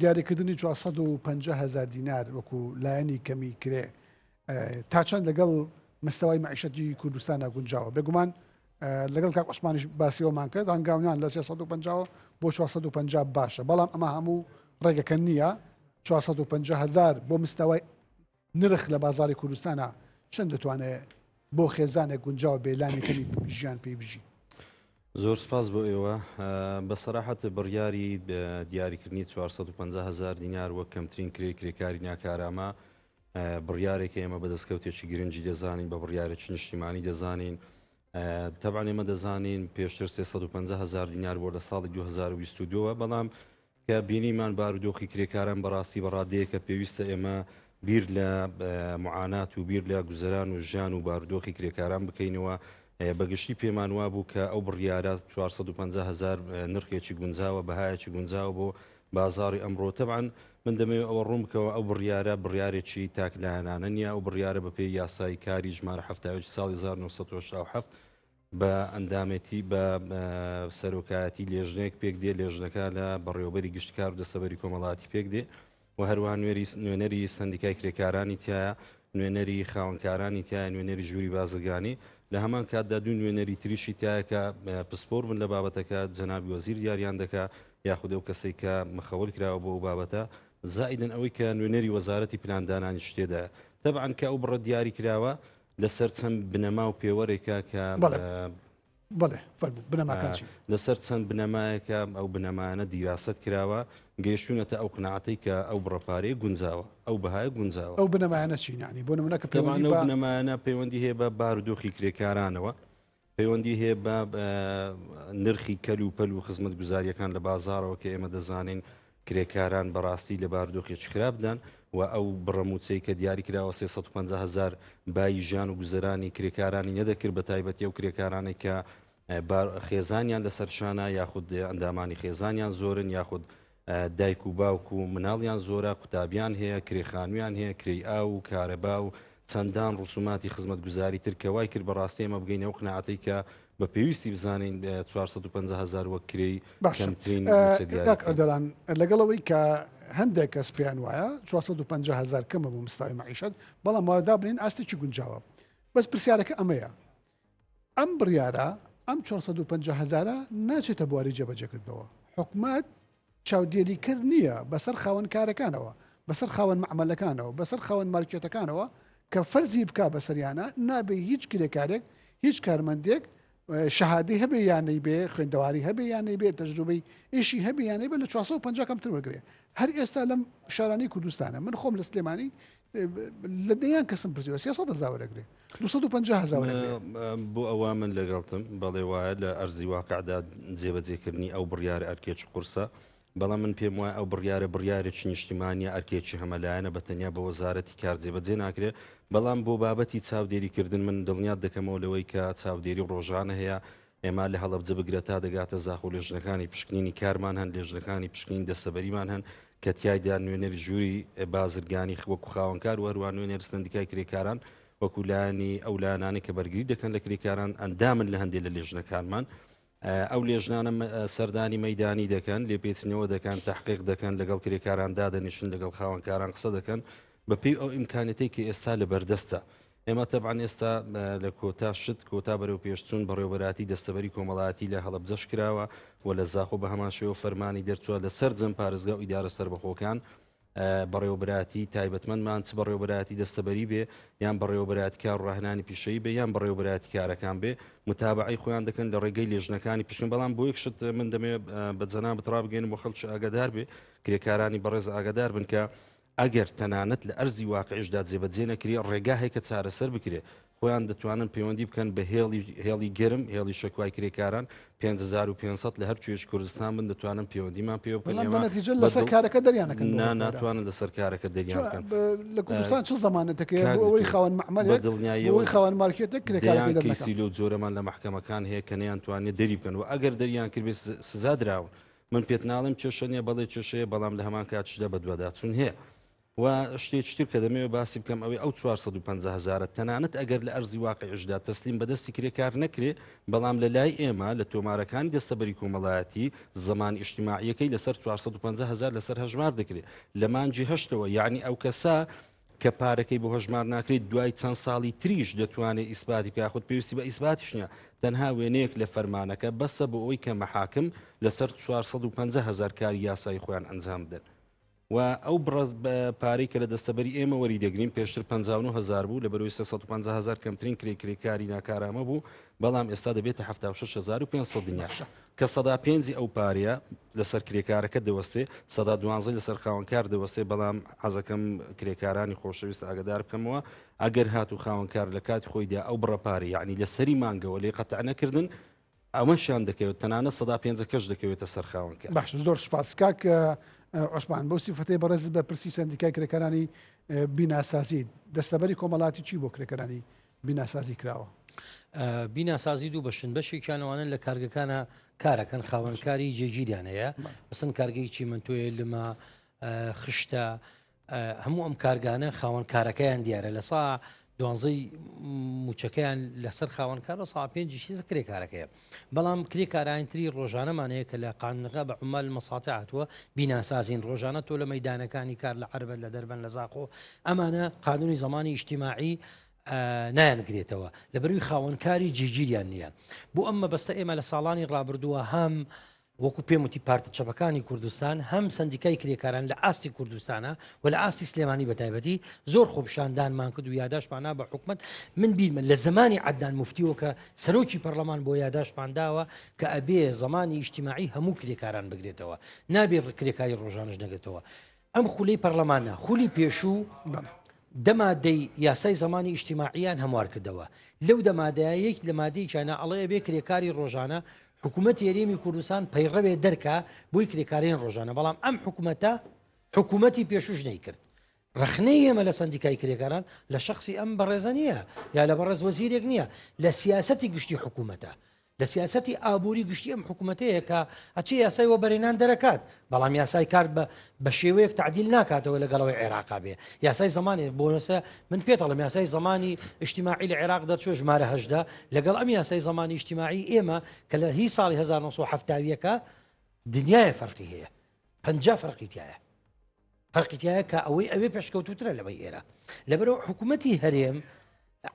دیاریکردنی چوار سەد و پەنجا هەزار دینار وەکو لایەنی کەمی کرێ تا چەند لەگەڵ مستەوای معیشەتی کوردستانە گونجاوە بێگومان لەگەڵ کاک عوسمانیش باسیەوەمان کرد هەنگاونان لە 350 بۆ 450 باشە بەڵام ئەمە هەموو ڕێگەکە نییە 450 هزار بۆ مستەوای نرخ لە بازاری کوردستانە چەند دەتوانێت بۆ خێزانێک گونجاو بێ لانی کەمی ژیان پێی بژی زۆر سپاس بۆ ئێوە بە سەراحەت بڕیاری دیاریکردنی 450 هزار دینار وەک کەمترین کرێ کرێکاری ناکارامە بڕیارێک ئێمە بە دەستکەوتێکی گرنگی دەزانین بە بڕیارێکی نیشتیمانی دەزانین تەبان ئێمە دەزانین پێشتر 350 هزار دینار بۆ لە ساڵی 2022ەوە بەڵام کە بینیمان بارودۆخی کرێکاران بەڕاستی بە ڕادەیەکە پێویستە ئێمە بیر لە معانات و بیر لە گوزەران و ژیان و بارودۆخی کرێکاران بکەینەوە بەگشتی پێمان وا بوو کە ئەو بڕیارە 450 هزار نرخێکی گونجاوە بەهایەکی گونجاوە بۆ بازاری ئەمڕۆ تەبان من دەمەوێ ئەوە ڕوون بکەوە ئەو بڕیارە بڕیارێکی تاکلایەنانە نیە ئەو بڕیارە بەپێی یاسایی کاری ژمارە هەفتاوێکی ساڵی 1970 بە ئەندامێتی بە سەرۆکایەتی لێژنەیەک پێک دێ لێژنەکە لە بەڕێوەبەری گشت کار و دەسەبەری کۆمەڵاتی پێک دێ و هەروان نوێری نوێنەری سندیکای کرێکارانی تایە نوێنەری خاونکارانی تایە نوێنەری ژووری بازرگانی لە هەمان کاتدا دوو نوێنەری تریشی تایەکە پسپۆر من لە بابەتەکە جەنابی وەزیر دیاریان دەکە یاخود ئەو کەسێک کە مخەول کراوە بۆ ئەو بابەتە زائیدن ئەوەی کە نوێنەری وەزارەتی پلاندانانی شتێدا تەبعاان کە ئەو بڕە دیاری کراوە لەسەر چەند بنەما و پێوەرێکە کە بەڵێ بەڵێ فەرموو بنەماکان چین؟ لەسەر چەند بنەمایەکە ئەو بنەمانە دیراست کراوە گەیشتونەتە ئەو قناعەتی کە ئەو بڕەپارەیە گونجاوە ئەو بەهای گونجاوە ئەو بنەمایانە چینانی بۆ نمونەکە پێوانە بنەمایانە پەیوەندی هەیە بە بارودۆخی کرێکارانەوە پەیوەندی هەیە بە نرخی کەل و پەل و خزمەت گوزاریەکان لە بازارەوە کە ئێمە دەزانین کرێکاران بەڕاستی لە باردۆخێکی خراپدان و ئەو بڕەموچەی کە دیاری کراوە 350 هزار بای ژیان و گوزرانی کرێکارانی نەدەکرد بە تایبەتی و کرێکارانێک کە خێزانیان لەسەر شانە یاخود ئەندامانی خێزانیان زۆرن یاخود دایک و باوک و مناڵیان زۆرە، قوتابیان هەیە، کرێ خانوویان هەیە، کرێی ئاو و کارەبا و چەندان ڕسوماتی خزمەتگوزاری تر کە وای کرد بە ڕاستی ئێمە بگەینە ئەو قناعەتەی کە بە پێویستی بزانین چوار سەد و پەنجا هەزار وەک کرێی باشە. کەمترین مووچە دیاری کاک بکەین. ئەردەڵان لەگەڵ ئەوەی کە هەندێک کەس پێیان وایە چوار سەد و پەنجا هەزار کەمە بۆ مستوای مەعیشەت، بەڵام وا دابنێین ئاستێکی گونجاوە. بەس پرسیارەکە ئەمەیە. ئەم بڕیارە ئەم چوار سەد و پەنجا هەزارە ناچێتە بواری جێبەجێکردنەوە حکومەت چاودێریکرد نییە بەسەر خاوەن کارەکانەوە بەسەر خاوەن معملەکانەوە بەسەر خاوەن مارکێتەکانەوە کە فەرزی بکا بەسەریانە نابێ هیچ کرێکارێک هیچ کارمەندێک شەهادی هەبێ یانەی بێ خوێندەواری هەبێ یانەی بێ تەجروبەی ئیشی هەبێ یانەی بە لە 450 کەمتر وەرگێ هەر ئێستا لەم شارانی کوردستانە من خۆم لە سلێمانی لە دەیان کەسم پرسیوە سێ سەد هەزار وەرەگرێ دو سەد و پەنجا هەزار وەرەگرێ. بۆ ئەوە من لەگەڵتم بەڵێ وایە لە ئەرزی واقعدا جێبەجێکردنی ئەو بڕیارە ئەرکێکی قورسە بەڵام من پێم وایە ئەو بڕیارە بڕیارێکی نیشتیمانە ئەرکێکی هەمەلایەنە بە تەنیا بە وەزارەتی کار جێبەجێ ناکرێ بەڵام بۆ بابەتی چاودێریکردن من دڵنیات دەکەمەوە لەوەی کە چاودێری ڕۆژانە هەیە ئێمە لە هەڵەبجە بگرە تا دەگاتە زاخۆ لێژنەکانی پشکنینی کارمان هەن لێژنەکانی پشکنین دەسەبەریمان هەن کە تایدا نوێنەری ژووری بازرگانی وەکو خاوەنکار و هەروان نوێنەر سندیکای کرێکاران وەکولانی ئەو لایەنانی کە بەرگری دەکەن لە کرێکاران ئەندامن لە هەندێک لە لێژنەکانمان ئەو لێژنانە سەردانی مەدانی دەکەن لێپێچنەوە دەکەن تحقیق دەکەن لەگەڵ کرێکاران دادەنیشن لەگەڵ خاوەنکاران قسە دەکەن بەپی ئەو ئیمکانەتی کە ئێستا لە بەردەستە ئێمە تەبعەن ئێستا لە کۆتا شت کۆتا بەرەو پێشچوون بەڕێوبەراتی دەستەبەری کۆمەڵایەتی لە هەڵبجەش کراوە و لە زاخۆ بە هەماشەوە فەرمانی دەرچوە لە سەر جەم پارێزگا و ئیدارە سربەخۆکان بەڕێوبراتی تایبەتمەندمان چ بەڕێوبراتی دەستەبەری بێ یان بەڕێوبراتی کار ڕاهنانی پیشەی بێ یان بەڕێوبراتی کارەکان بێ متابعی خۆیان دەکەن لە ڕێگەی لێژنەکانی پشکن بەڵام بۆ یەک شت من دەمێ بە جەنا بتڕابگەێن بۆ خەڵکی ئاگادار بێ کرێکارانی بەڕێز ئاگادار بن کە ئەگەر تەنانەت لە ئەرزی واقعیشدا جێبەجێ نەکرێ، ڕێگا هەیە کە چارەسەر بکرێ. خۆیان دەتوانن پەیوەندی بکەن بە هێڵی هێڵی گەرم، هێڵی شەکوای کرێکاران، پێنج هەزار و پێنج سەد لە هەر کوێیش کوردستان بن دەتوانن پەیوەندیمان پێوە بکەن. بەڵام بە نەتیجە ئێمە بە لەسەر دڵ کارەکە دەریان نەکەن بۆ نا هۆکارە. ناتوانن لەسەر کارەکە دەریان چۆن بکەن. بە لە کوردستان چ زەمانەتێک هەیە کاک بۆ ئەوەی دکتۆر، خاوەن بە مەعمەلێک، بۆ دڵنیاییەوە ئەوەی خاوەن مارکێتێک کرێکارەکەی دەیان دەرنەکا؟ کەیسی لەو جۆرەمان لە مەحکەمەکان هەیە کە نەیانتوانیە دەری بکەن و ئەگەر دەریان کردبێ س سزا دراون. من پێت ناڵێم کێشە نیە بەڵێ کێشەیە بەڵام لە هەمان کاتشدا بەدواداچون هەیە و شتێکی تر کە دەمەوێت باسی بکەم ئەوەی ئەو 450 هزارە تەنانەت ئەگەر لە ئەرزی واقعیشدا تەسلیم بەدەستی کرێکار نەکرێ بەڵام لە لای ئێمە لە تۆمارەکانی دەستەبەری کۆمەڵایەتی زمان ئیشتیماعیەکەی لەسەر 450 هزار لەسەر هەژمار دەکرێت لە مانجی هەشتەوە یعنی ئەو کەسە کە پارەکەی بۆ هەژمار ناکرێت دوای چەند ساڵی تریش دەتوانێت ئیسباتی بکە خود پێویستی بە ئیسباتیش نیە تەنها وێنەیەک لە فەرمانەکە بەسە بۆ ئەوی کە مەحاکم لەسەر 450 هزار کاری یاسایی خۆیان ئەنجام بدەن و ئەو بڕز پارەی کە لە دەستەبەری ئێمە وەری دەگرین پێشتر 59 هزار بوو لە بەروی 350 هزار کەمترین کرێ کرێکاری ناکارامە بوو بەڵام ئێستا دەبێتە 1950 دنیاشە کە سەدا پێنجی ئەو پارەیە لەسەر کرێکارەکە دەوەستێ سەدا دوانزەی لەسەر خاوەنکار دەوەستێ بەڵام حەزەکەم کرێکارانی خۆشەویست ئاگدار بکەمەوە ئەگەر هات و خاوەنکار لە کات خۆیدا ئەو بڕەپاری یعنی لە سەری مانگەوە لێ قەتع نەکردن ئەمەشان دەکەوێت تەنانە سەدا پێنجەکەش دەکەوێتە سەرخاونکە باش زۆر سپاس کاک عوسمان بۆ سیفەتی بەڕێز بە پرسی سندیکای کرێکارانی بیناسازی دەستەبەری کۆمەڵاتی چی بۆ کرێکەرانی بیناسازی کراوە. بیناسازی دوو بەشن بەشێکیان ئەوانە لە کارگەکانە کارەکەن خاوەنکاری جێگیریان هەیە بەسن کارگەی چیمنتۆیە لما خشتە هەموو ئەم کارگانە خاوەن کارەکەیان دیارە لە سا دوانزەی موچەکەیان لەسەر خاوەنکار لە سا پێنجشی کرێکارەکەیە بەڵام کرێکارانی تری ڕۆژانەمان هەیە کە لە قانونەکە بە عمال مەساتێ هاتووە بیناسازین ڕۆژانە تۆ لە مەدانەکانی کار لە عربەت لە دەربەن لە زاخۆ ئەمانە قانونی زمانی ئیشتیماعی نایانگرێتەوە لە بەروی خاوەنکاری جیگیریان نییە بۆ ئەم مەبەستە ئێمە لە ساڵانی ڕابردووە هەم وەکو پێم وتی پارتە چەپەکانی کوردستان هەم سندیکای کرێکاران لە ئاستی کوردستانە و لە ئاستی سلێمانی بەتایبەتی زۆر خۆپشاندانمان کرد و یاداشماننا بە حکومت من بیرمە لە زمانی عدنان مفتیەوە کە سەرۆکی پەرلەمان بۆ یاداشمان داوە کە ئەبێ زمانی ئیشتیماعی هەموو کرێکاران بگرێتەوە نابێ کرێکاری ڕۆژانش نەگرێتەوە ئەم خولی پەرلەمانە خولی پێشوو دەمادەی یاسای زمانی ئیشتیماعیان هەموار کردەوە لەو دەمادەیە یەک لە مادەیەکیانە ئەڵەیە بێ کرێکاری ڕۆژانە حکوومەت یاریێمی کوردستان پەیڕەوێ دەرکە بۆی کرێکارین ڕۆژانە بەڵام ئەم حکوومەتە حکوومەتی پێشوش نەی کرد ڕخنەی ئێمە لە سندیکای کرێکاران لە شخصی ئەم بەڕێزە نییە یا لە بەڕێز وەزیرێک نییە لە سیاستی گشتی حکوومەتە دە سیاسەتی ئابووری گشتی ئەم حکوومەتەیە کە ئەچێ یاسای وەبەرێنان دەرەکات بەڵام یاسای کارد بە بە شێوەیەک تعدیل ناکاتەوە لەگەڵەوەی عێراقا بێ یاسای زمانی بۆنەسە من پێتەڵم یاسای زمانی ئیشتیماعی لە عێراق دەرچوە ژمارە هەشدا لەگەڵ ئەم یاسای زمانی ئیشتیماعی ئێمە کە لە هی ساڵی 1970ەکە دنیاە فەرقی هەیە پ فەرقی تایە فەرقیتایە کە ئەوەی ئەوێ پێشکەوتوترە لەوەی ئێرە لەبەرەوە حکوومەتتی هەرێم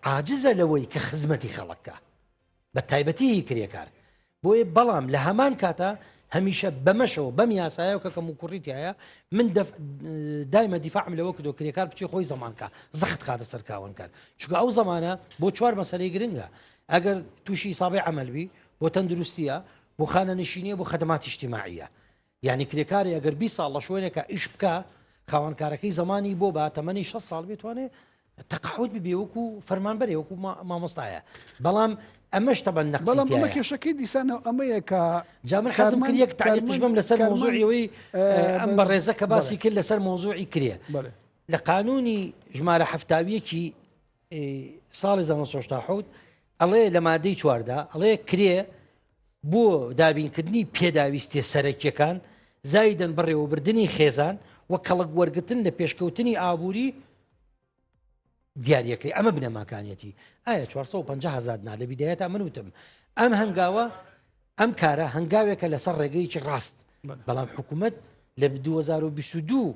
عاجزە لەوەی کە خزمەتی خەڵکە بە تایبەتی هی کرێکار بۆیە بەڵام لە هەمان کاتە هەمیشە بەمەشەوە بەم یاسایە و کە کەم و کوڕیتایە من دایمە دیفاعم لەوە کردو کرێکار بچی خۆی زمانکە زەخت خاتە سەرکاون کار چکە ئەو زمانە بۆ چوار مەسەری گرنگە ئەگەر تووشی ساابی ئەمەلبی بۆ تەندروستیە بۆ خانە نشینە بۆ خدمات شتیماعە یانی کرێکارێ ئەگەر بیست ساڵ لە شوێنێکە ئیش بکا خاوەن کارەکەی زمانی بۆ با تەمەنی 6 ساڵ بێتوانێ تەقاوت ببێ وەکو فەرمانبەرێ وەکو مامۆستایە بەڵام ئەمەش تەبەن نەق بەڵام ئەمە کێشەکەی دیسانە ئەمەیە کە جامن حەزم کرد یەک تاقیشمم لەسەر مۆزوعیەوەی ئەم بە ڕێزە کە باسی کرد لەسەر مۆزوعی کرێ لە قانونی ژمارە هەفتاویەکی ی ساڵی 1970 ئەڵێ لە مادەی چواردا ئەڵێ کرێ بۆ دابینکردنی پێداویستێ سەرەکیەکان زایدن بەڕێوەبردننی خێزان و کەڵک وەرگتن لە پێشکەوتنی ئابووری دیارەکەی ئەمە بنەماکانیەتی ئایا 450 هزار نا لە بیدایەت من وتم ئەم هەنگاوە ئەم کارە هەنگاوێکە لەسەر ڕێگەیەکی ڕاست بەڵام حکوومەت لە 2022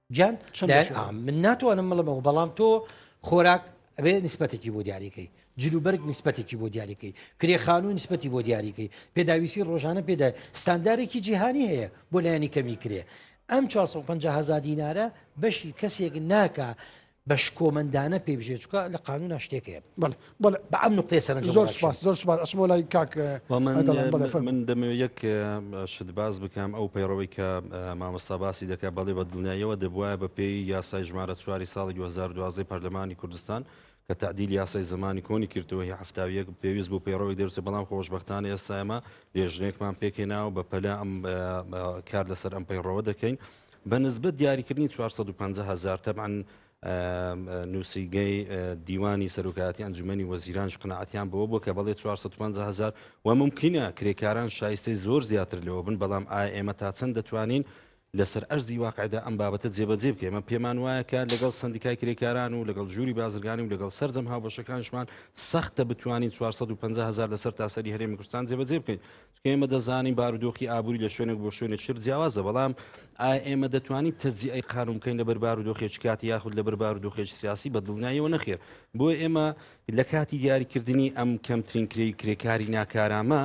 گیان من ناتوانم مڵمەوە بەڵام تۆ خۆراک ئەبێ نسبەتێکی بۆ دیاریکەی جلوبەرگ نسبەتێکی بۆ دیاریکەی کرێخان و نسبەتی بۆ دیاریکەی پێداویستی ڕۆژانە پێدا ستاندارێکی جیهانی هەیە بۆ لایەنی کەمی کرێ ئەم 450 هزار دینارە بەشی کەسێک ناکە بە شکۆمەندانە پێ بژێ چکە لە قانونا شتێکەیە بڵ بڵ بە ئەم نقطێ سەر زۆر سپاس زۆر سپاس ئەسمۆ لای کاک من دەمەوێت یەک شت باز بکەم ئەو پەیڕەوەی کە مامۆستا باسی دەکات بەڵێ بە دڵنیاییەوە دەبواە بە پێی یاسای ژمارە چواری ساڵی 2012 پەرلەمانی کوردستان کە تعدیل یاسای زمانی کۆنی کردەوەی هەفتاویەک پێویست بوو پەیڕەوەی دەرچە بەڵام خۆشببختانە ئێستایمە لێژنێکمان پێکێناوە بە پەلا ئەم کار لەسەر ئەم پەیڕەوە دەکەین بە نسبەت دیاریکردنی چوار سەد و پەنجا هەزار تەبعەن نووسینگەی دیوانی سەرۆکایەتی ئەنجومەنی وەزیرانش قناعەتیان بەوە بوو کە بەڵێ 450 هزار و ممکنە کرێکاران شایستەی زۆر زیاتر لەوە بن بەڵام ئایا ئێمە تا چەند دەتوانین لەسەر ئەرزی واقعدا ئەم بابەتە جێبەجێ بکە ئێمە پێمان وایە کە لەگەڵ سندیکای کرێکاران و لەگەڵ ژووری بازرگانی و لەگەڵ سەررجەم هاوبەشەکانشمان سەختە بتوانین 450 هزار لەسەر تاسەری هەرێمی کوردستان جێبەجێ بکەین ئێمە دەزانین بارودۆخی ئابووری لە شوێنێک بۆ شوێنێک شر جیاوازە بەڵام ئایا ئێمە دەتوانین تەجیئەی قانون بکەین لەبەر بارودۆخێکی کاتی یاخود لەبەر بارودۆخێکی سیاسی بە دڵنیایەوە نەخێر بۆ ئێمە لە کاتی دیاریکردنی ئەم کەمترین کرێی کرێکاری ناکارامە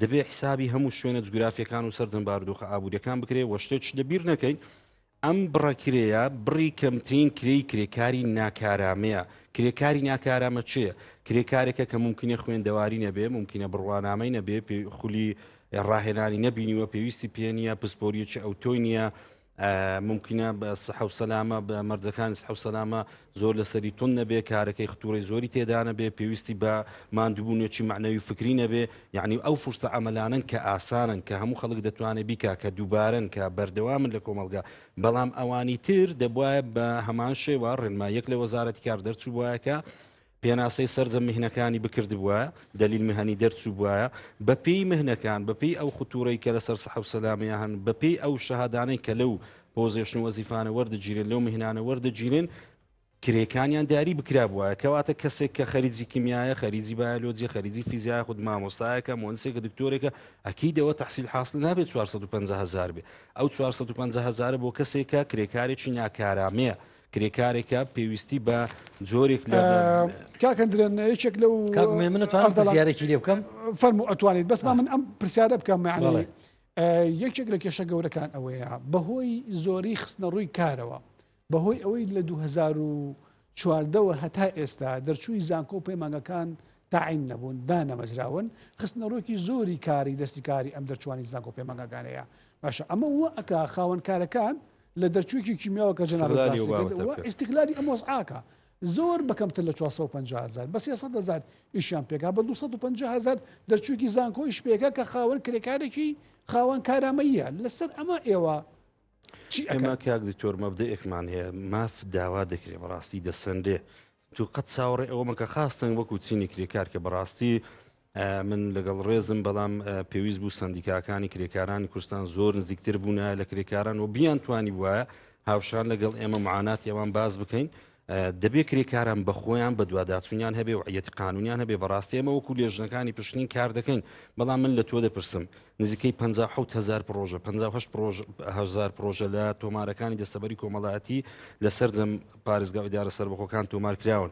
دەبێ حسابی هەموو شوێنە جوگرافیەکان و سەرجەم بارودۆخە ئابووریەکان بکرێ وە شتێک لەبیر نەکەین ئەم بڕە کرێیە بڕی کەمترین کرێی کرێکاری ناکارامەیە کرێکاری ناکارامە چێە کرێکارێکە کە ممکنە خوێندەواری نەبێ ممکنە بڕوانامەی نەبێ پێ خولی ڕاهێنانی نەبینیوە پێویستی پێ نیە پسپۆریەکی ئەو تۆی نییە ممکنە بە سەحەو سەلامە بە مەرجەکانی سحەو سەلامە زۆر لەسەری توند نەبێ کارەکەی ختوڕی زۆری تێدانەبێ پێویستی بە ماندوبوونێکی معنەوی فکری نەبێ یعنی ئەو فرسە ئەمەلانن کە ئاسانن کە هەموو خەڵک دەتوانێت بیکا کە دووبارن کە بەردەوامن لە کۆمەلگا بەڵام ئەوانی تر دەبواە بە هەمان شێوە ڕێنما یەک لە وەزارەتی کار دەرچوو وایەکە پێناسەی سرجە مهنەکانی بکرد بووە دلیل مهنی دەرچوو بواە بەپی مهنەکان بەپی ئەو ختورەی کە لەسەر سەحب سەلامەیە هەن بەپی ئەو شەهادانەی کە لەو پۆزێشن وەزیفانە وەردەگیرێن لەو مهنانە وەردەگیرێن کرێکانیان دیاری بکرا بووە کەواتە کەسێک کە خەریجی کیمیایە خەریجی بایلۆجی خەریجی فیزیای خود مامۆستایەکە مۆنسێکە دکتۆرێکە ئەکیدەوە تحصیل حاصل نابێت 450 هزار بێ ئەو 450 هزارە بۆ کەسێکە کرێکارێکی ناکارامەیە کرێکارێکە پێویستی بە جۆرێک لە کاکەندرێن یەکێک لەو منتوانم دەزیارێکی لێ بکەم فەرمو ئەتوانیت بەس من ئەم پرسیارە بکەم معنی یەکێک لە کێشە گەورەکان ئەوەیە بەهۆی زۆری خستنە ڕووی کارەوە بەهۆی ئەوەی لە 2014ەوە هەتا ئێستا دەرچووی زانکۆ و پەیمانگەکان تاعین نەبوون دانەمەزراون خستنە ڕۆکی زۆری کاری دەستی کاری ئەم دەرچوانی زانکۆ پەیمانگەکانەیە باشە ئەمە وە ئەک خاوەنکارەکان لە دەرچووکی کیمیاوە کە جناڵ ئستیکلاری ئەم وەزعاکە زۆر بە کەمتر لە چوار سەد و پەنجا هەزار بە سێ سەد هەزار ئیشیان پێکا بە دوو سەد و پەنجا هەزار دەرچووکی زانکۆ ئیش پێکا کە خاوەن کرێکارێکی خاوەن کارامەییە لەسەر ئەمە ئێوە چی ئەکەن؟ ئێمە کاک دکتۆر مەبدەئێکمان هەیە ماف داوا دەکرێ بەڕاستی دەسەنرێ تو قەت چاوەڕێ ئەوە مەکە خاستەنگ وەکو چینی کرێکار کە بەڕاستی من لەگەڵ ڕێزم بەڵام پێویست بوو سندیکاکانی کرێکارانی کوردستان زۆر نزیکتر بوونە لە کرێکاران و بیان توانی وایە هاوشان لەگەڵ ئێمە معاناتی ئەوان باز بکەین دەبێ کرێکاران بە خۆیان بە دوواداچوونیان هەبێ و عەتی قانونیان هەبێ بەڕاستی ئەمە وەکو لێژنەکانی پشتین کار دەکەین بەڵام من لە تۆ دەپرسم نزیکەی 5هزار پرۆژە 5هزار پرۆژە لە تۆمارەکانی دەستەبەری کۆمەڵایەتی لە سەردەم پارێزگا ئیدارە سربەخۆکان تۆمار کراون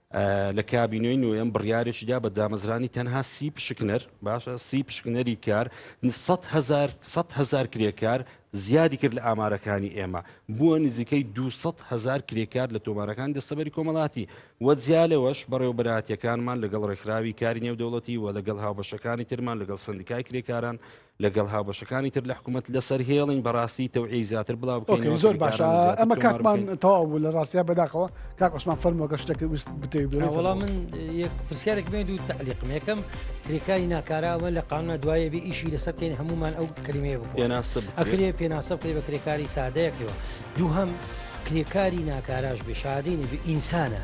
لە کابینەی نوێم بڕیارێکی دا بە دامەزرانی تەنها سی پشکنەر باشە سی پشکنەری کار هزار کرێکار زیادی کرد لە ئامارەکانی ئێمە بووە نزیکەی 200 هزار کرێکار لە تۆمارەکان دەستەبەری کۆمەڵاتی وەجیا لەوەش بەڕێوبەراتیەکانمان لەگەڵ ڕێکخراوی کاری نێودەوڵەتی و لەگەڵ هاوبەشەکانی ترمان لەگەڵ سندیکای کرێکاران و لەگەڵ هاوبەشەکانی تر لە حکومەت لەسەر هێڵین بەڕاستی تەوعی زیاتر بڵاو بکەین زۆر باش ئەمە کاکمان تەواو بوو لە ڕاستیا بەداخەوە کاک عسمان فەرمۆگە شتەکە ویست بتێ وڵام من پرسیارێک مێ دوو تعلیقم یەکەم کرێکاری ناکاراوە لە قانە دوایە بێ ئیشی لەسەر بکەین هەمومان ئەو کلمێ پێناسب ئەکرێ پێناسە بکەی بە کرێکاری سادەیەکەوە دووهم کرێکاری ناکاراش بشادینی ئینسانە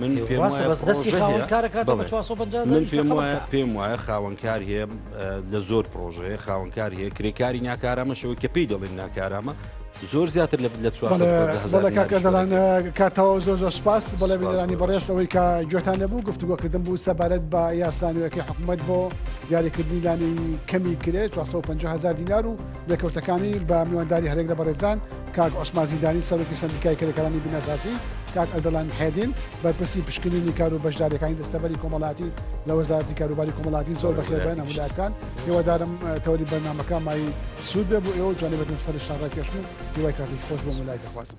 من پێم وایە پێم وایە خاوەنکار هەیە لە زۆر پرۆژەیە خاوەنکار هەیە کرێکاری ناکارامەشەوە کە پێی دەڵێن ناکارامە زۆر زیاتر لە لە کاتەوە زۆر زۆر سپاس بەڵێ بینەرانی بەڕێستەوەی کە گوێتان نەبوو گفتوگۆکردن بوو سەبارەت بە یاسانەوەەکەی حکوومەت بۆ دیاریکردنی لانی کەمی کرێ 450 هزار دینار و لێکەوتەکانی بە میوانداری هەرێک لە بەڕێزان کاک عوسمان زیدانی سەرۆکی سەندیکای کرێکارانی بیناسازی کاک ئەردەڵان حێدین بەرپرسی پشکنینی کار و بەشدارەکانی دەستەبەری کۆمەڵاتی لە وەزارەتی کاروباری کۆمەڵاتی زۆر بەخێربێن هەمولاتان هێوادارم تەوری بەرنمەکە مای سوود بێ بۆ ئێوە جوانی بەتون سەر شارڕای کێشن و هیوای کاتێک خۆش بۆ مولای دەخوازم.